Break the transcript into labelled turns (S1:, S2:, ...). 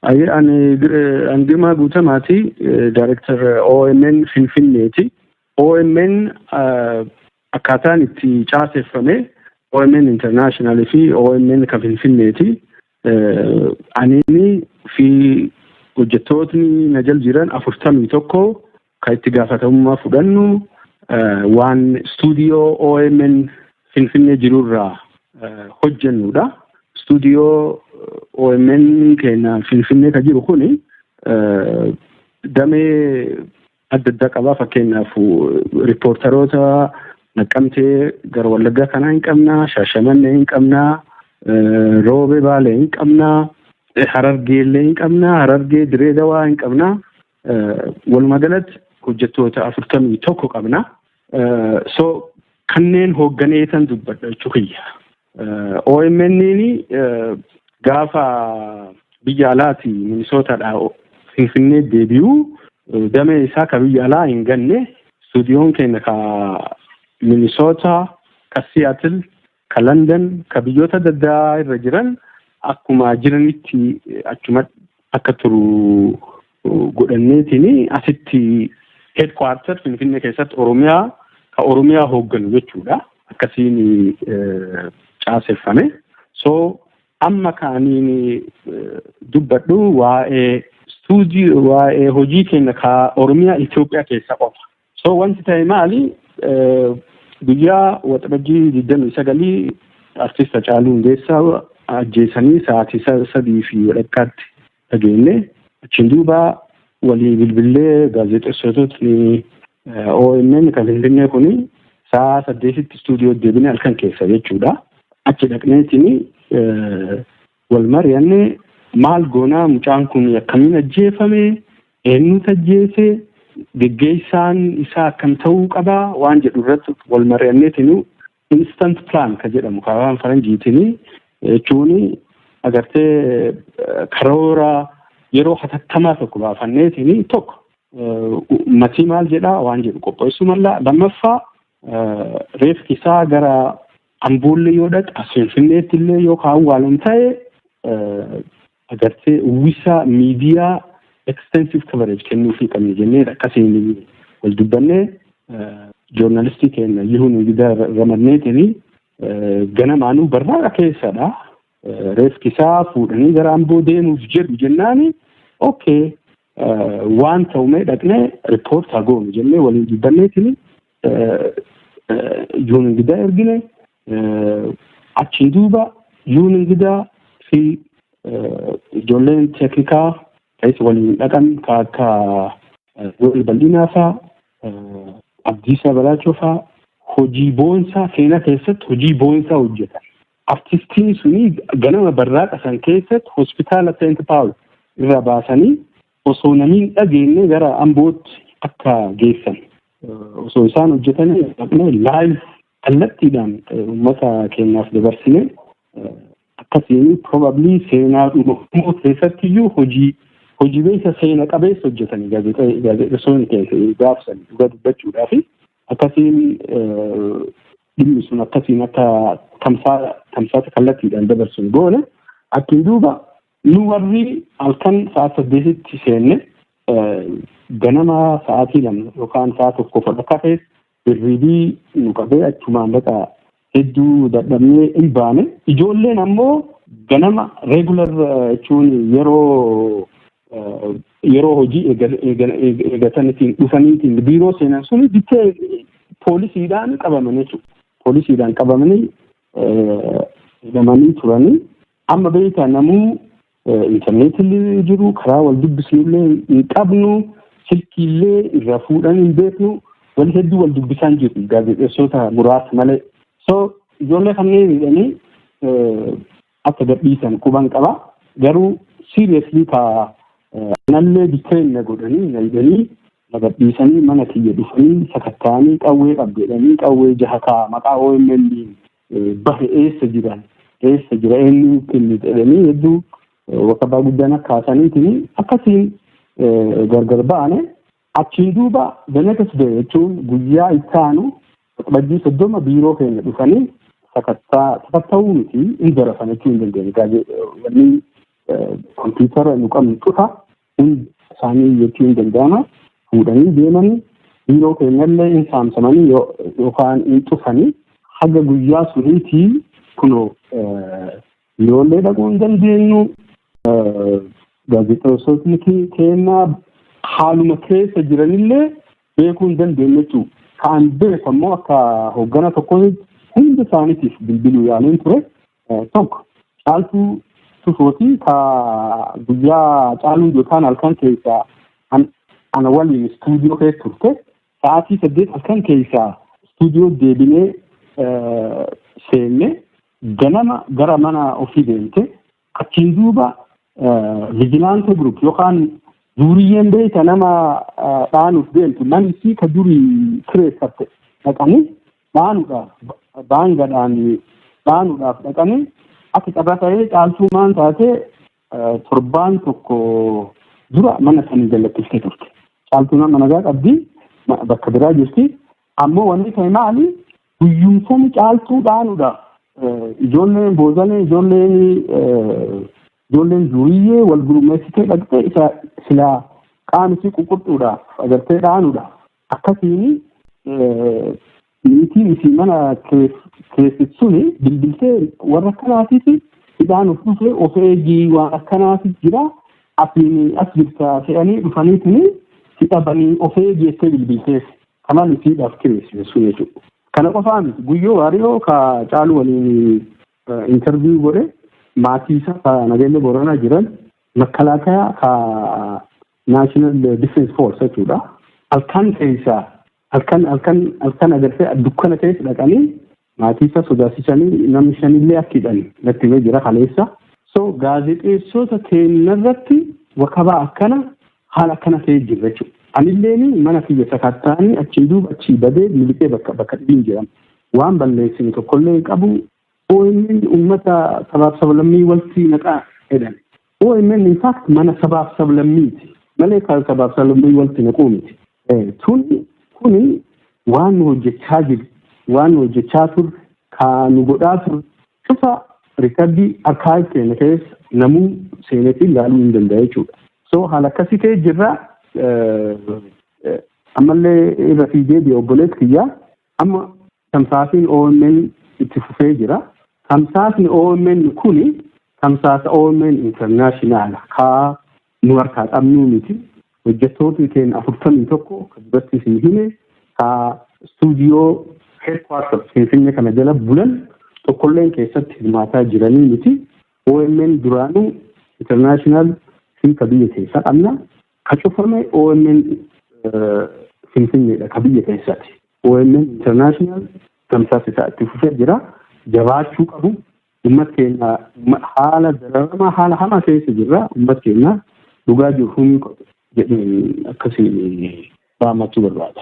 S1: Ayi ani an Girmaa Guutamaati Director OMN Finfinneeti. OMN akkaataan itti caaseffame OMN International fi OMN kan Finfinneeti. Anini fi hojjettootni na jal jiran afurtamii tokko Kan itti gaafatamummaa fudhannu waan istuudiyoo OMN Finfinnee jirurraa hojjennudha. Istuudiyoo OMN keenya Finfinnee kan jiru kuni damee adda addaa qaba. Fakkeenyaaf riippoortaroota Naqqamtee gara Wallaggaa kanaa hin qabna, Shaashamannee hin qabna, Roobee Baalee hin qabna, Harargee illee hin qabna, Harargee Diree Dawaa hin qabna. Walumaa galatti hojjettoota afurtamii tokko qabna. So kanneen hoogganeetan dubbadha jechuu kiyya. OMN gaafa biyya alaati Minisootaadha Finfinnee deebi'u damee isaa ka biyya alaa hin ganne stuudiyoon keenya ka Minisoota ka Siyaatil ka London, ka biyyoota adda addaa irra jiran akkuma jiranitti achuma akka turu godhanneetiin asitti headquarter Finfinnee keessatti Oromiyaa ka Oromiyaa hoogganu jechuudha. Akkasiin caaseffame. So amma kaaniin dubbadhu waa'ee stuudii waa'ee hojii keenya ka Oromiyaa Itoophiyaa keessa qofa. So wanti ta'e maali? Guyyaa waxabajjii digdamii sagalii artist Hacaaluu Hundeessaa ajjeesanii sa'aatii sadii fi walakkaatti dhageenye. Achiin duuba walii bilbillee gaazexessitootni OMN kan Finfinnee kun sa'a saddeetitti istuudiyoo deebine halkan keessa jechuudha. Achi dhaqneetiin Wal mari'anne maal goonaa mucaan kun akkamiin ajjeefame, eenyutu ajjeese, geggeessaan isaa akkam ta'uu qaba waan jedhu irratti wal mari'anneetinu instant plan ka jedhamu ka afaan faranjiitini jechuun agartee karoora yeroo hatattamaa tokko baafanneetini tokko matii maal jedhaa waan jedhu qopheessuu mallaa lammaffaa reeffi isaa gara Amboollee yoo dhaqa Finfinneetti illee yoo ka awwaalan ta'e agartee uwwisa miidiyaa extensive coverage kennuufii qabna jennee akkasiin wal dubbannee joornaalistii keenya Yihuu Nugidaa ramadneetini ganamaanuu barraaqa keessadha. Reefkisaa fuudhanii gara Amboo deemuuf jedhu jennaani okay waan ta'u mee dhaqnee riippoortaa goonu jennee waliin dubbanneetini yoon ingidaa ergine achiin duuba yoon ingidaa fi ijoolleen teeknikaa ta'es waliin dhaqan ka akka Yoel Bal'inaa faa Abdiisaa Balaachoo faa hojii boonsaa seenaa keessatti hojii boonsaa hojjetan. Artistiin suni ganama barraaqa san keessatti hospitaala Seent Paawul irra baasanii osoo namiin dhageenye gara Ambootti akka geessan osoo isaan hojjetanii dhaqnee laayiv kallattiidhaan uummata keenyaaf dabarsine akkasiin probably seenaa dhumaa keessatti iyyuu hojii hojii beeksa seena qabeessa hojjetanii gaazexeessoonni keenya gaafsan dhugaa dubbachuudhaa fi akkasiin dhimmi sun akkasiin akka tamsaasa kallattiidhaan dabarsuun goone achiin duuba Nu warri halkan sa'aat saddeetitti seenne ganama sa'aatii lama yookaan sa'a tokko fodha kafee birriibii nu qabee achumaan baqa hedduu dadhabnee hin baane. Ijoolleen ammoo ganama regular jechuun yeroo yeroo hojii eegatanitiin dhufaniitiin biiroo seenan suni bitee poolisiidhaan qabaman jechuudha. Poolisiidhaan qabamanii hidhamanii turanii Amma beektaa namuu intarneetillee jiru karaa wal dubbisnullee hin qabnu silkiillee irraa fuudhan hin beeknu wal hedduu wal dubbisaan jiru gaazexeessota muraasa malee. So ijoollee kanneen jedhanii akka gadhiisan quban qaba garuu seriously ka anallee detain na godhanii na hidhanii na gadhiisanii mana kiyya dhufanii sakattaanii qawwee qabdeedhanii qawwee jaha kaa maqaa OMN bahe eessa jiran eessa jira eenyu kenni jedhanii hedduu waqabaa guddaan akka haasaniitiin akkasiin gargar ba'ane achiin duuba danakas ba'e jechuun guyyaa itti aanu waxabajjii soddoma biiroo keenya dhufanii sakattaa sakatta'uu miti hin darafan jechuu hin dandeenye gaazexaa wanni kompiitara nu qabnu cufa Hin saamii jechuun danda'ama. Fuudhanii deemanii biiroo keenyallee hin saamsamanii yookaan hin cufanii haga guyyaa suniitii kunoo biiroollee dhaquu hin dandeenyu. Gaazexeessotni keenya haaluma keessa jiranillee beekuu hin dandeenye jechuudha. Kan beeku ammoo akka hoggana tokko hunda isaaniitiif bilbiluu yaaleen ture. Tokko caaltuu tufooti ka guyyaa caaluun yookaan halkan keessaa ana waliin istuudiyoo keessa turte sa'aatii saddeet halkan keessaa istuudiyoo deebinee seenne ganama gara mana ofii deemte achiin duuba vijilaantee gruup yookaan duuriyyeen beeyta nama dhaanuuf deemtu namni ka durii kireeffatte dhaqanii dhaanuudhaaf daangadhaan dhaanuudhaaf dhaqanii akka carraa ta'ee caaltuu maan taatee torbaan tokko dura mana sanii jallattistee turte. Caaltuu nama nagaa qabdi bakka biraa jirti. Ammoo wanni ta'e maali guyyumsani caaltuu dhaanuudhaaf ijoolleen boozalee ijoolleen ijoolleen duuyyee wal gurmeessitee dhaqxee isa silaa qaamisi ququrxuudhaaf agartee dhaanuudhaaf Akkasiin niitiin isii mana keessi suni bilbiltee warra akkanaatiif hidhaan of dhufee of eegii waan akkanaatiif jira asiin as jirta se'anii dhufanii tuni si dhabanii of eegii jettee bilbilteef kanaan isii dhaaf kireessite sun jechuudha. Kana qofaa miti guyyoo waariyoo ka caaluu waliin intarviyu godhe maatii isaa ka nageenya booranaa jiran makkalaakayaa ka National Defense Force jechuudha. Halkan keessaa halkan halkan halkan agartee dukkana keessa dhaqanii maatii isaa sodaachisanii namni shanillee akka hidhan natti himee jira kaleessa. So gaazexeessota keenyarratti wakabaa akkana haala akkana ta'ee jirra jechuudha. Anilleen mana kiyya sakattaanii achiin duuba achii badee miliqee bakka bakka dhibiin jedhama. Waan balleessine tokkollee hin qabu OMN ummata sabaaf sablammii walti naqaa jedhan. OMN in fact mana sabaaf sablammiiti malee kan sabaaf sablammii walti naquu miti. Tun kuni waan nu hojjechaa jiru waan nu hojjechaa turre kaa nu godhaa turre cufa rikardii arkaayif keenya keessa namuu seenetti ilaaluu hin danda'a jechuudha. So haala akkasii kee jirra ammallee irra fiigee deebi'e obboleessi kiyyaa Amma tamsaasiin OMN itti fufee jira. Tamsaasni OMN kun tamsaasa OMN Internaashinaala kaa nu harkaa qabnuu miti. Hojjettootni keenya afurtamii tokko kan duratti isin hime kaa istuudiyoo heedkwaartar Finfinnee kana jala bulan tokkolleen keessatti hirmaataa jiranii miti. OMN duraanuu internaashinaal hiika biyya keessaa qabna. Ka cufame omn Finfinneedha ka biyya keessaati. omn International tamsaasa isaa itti fufee jira. Jabaachuu qabu. Ummat keenya haala dararamaa haala hamaa keessa jirra. Ummat keenya dhugaa jiru humni qabu jedheen akkasiin dhaammachuu barbaada.